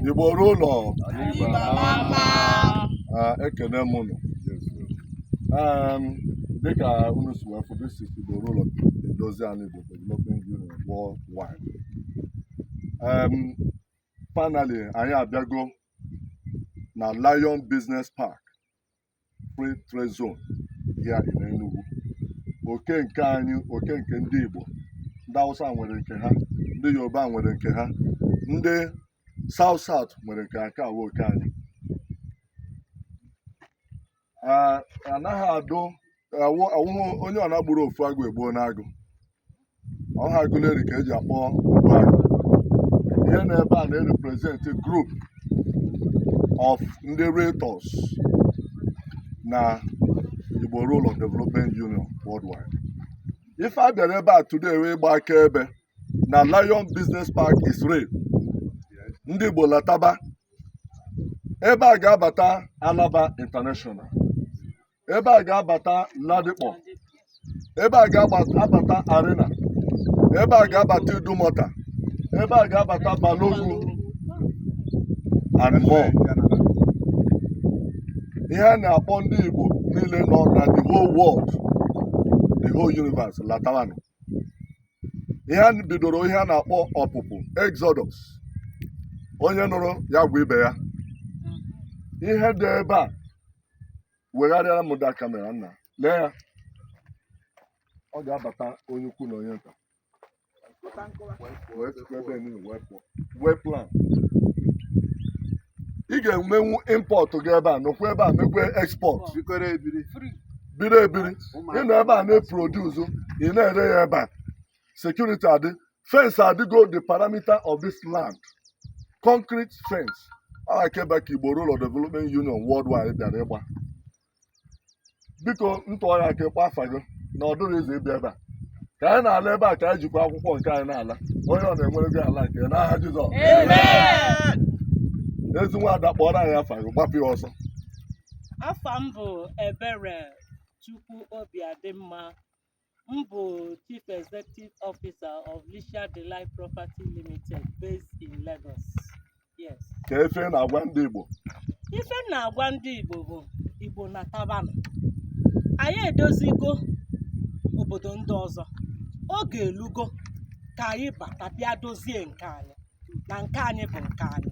Igbo ruo ụlọ ekene m unu dịka unu si wee fụ this is Igbo ruo ụlọ edozi anyị Igbo Development Union worldwide finally anyị abịago na Lion Business Park free trade zone here in Enugu oke nke anyị oke nke ndị Igbo ndị Hausa nwere nke ha ndị Yoruba nwere nke ha ndị South South nwere nke ha nke a wụ oke anyị anaghị adụ awụhụ onye ọ na-agburu ofu agụ egbuo n'agụ ọha Aguleri ka eji akpọ Ogbuagụ ihe na ebe a na-represent group of ndị realtors na Igbo Ruo Ụlọ Development Union worldwide ife a bịara ebe a today wụ ịgba akaebe na Lion Business Park is real ndị Igbo lataba ebe a ga-abata Alaba International ebe a ga-abata Ladipo ebe a ga-abata Arena ebe a ga-abata Idumota ebe a ga-abata Balogun and more ihe a na-akpọ ndị Igbo niile nọ na the whole world the whole universe latawanụ ihe a bidoro ihe a na-akpọ ọpụpụ exodus onye nụrụ ya gwa ibe ya ihe dị ebe a wegharịara m da camera nna lee ya ọ ga-abata onye ukwu na onye nta wee sikwa ebe niile wee pụọ well planned ị ga-emenwu import gị ebe a nọkwa ebe a mekwe export bikọrọ ebiri biri ebiri ị nọ ebe a na-eproduce ị na-ere ya ebe a security adị fence adịgo the perimeter of this land concrete fence akaebe ka Igbo Ruo Ụlọ Development Union worldwide bịara ịgba biko ntụọ ya aka ịkpọ afa gị na ọ dịrị izu ịbịa ebe a ka anyị na-ala ebe a ka anyị jikwa akwụkwọ nke anyị na-ala onye ọ na-enwere gị ala nke ya n'aha Jizọs ezi nwaada kpọọrọ anyị afa gị gbapụ ya ọsọ afa m bụ Eberechukwu Obiadịmma M bụ Chief Executive Officer of Lisha Delight Property Limited based in Lagos. Yes. kee ife ị na-agwa ndị Igbo Ife m na-agwa ndị Igbo bụ Igbo natabanụ. Anyị edozigo obodo ndị ọzọ. Oge elugo ka anyị bata bịa dozie nke anyị. na nke anyị bụ nke anyị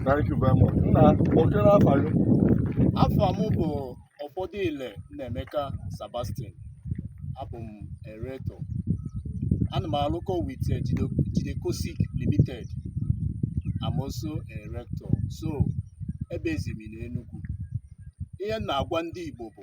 Thank you very much. Nna, oke n'afa gị. afa m bụ Ofodile Nnaemeka Sebastian abụ m a realtor ana m alụkọ with eh, Jide- jidekosik limited I'm also a realtor so ebezi m n'enugwu ihe m na-agwa ndị igbo bụ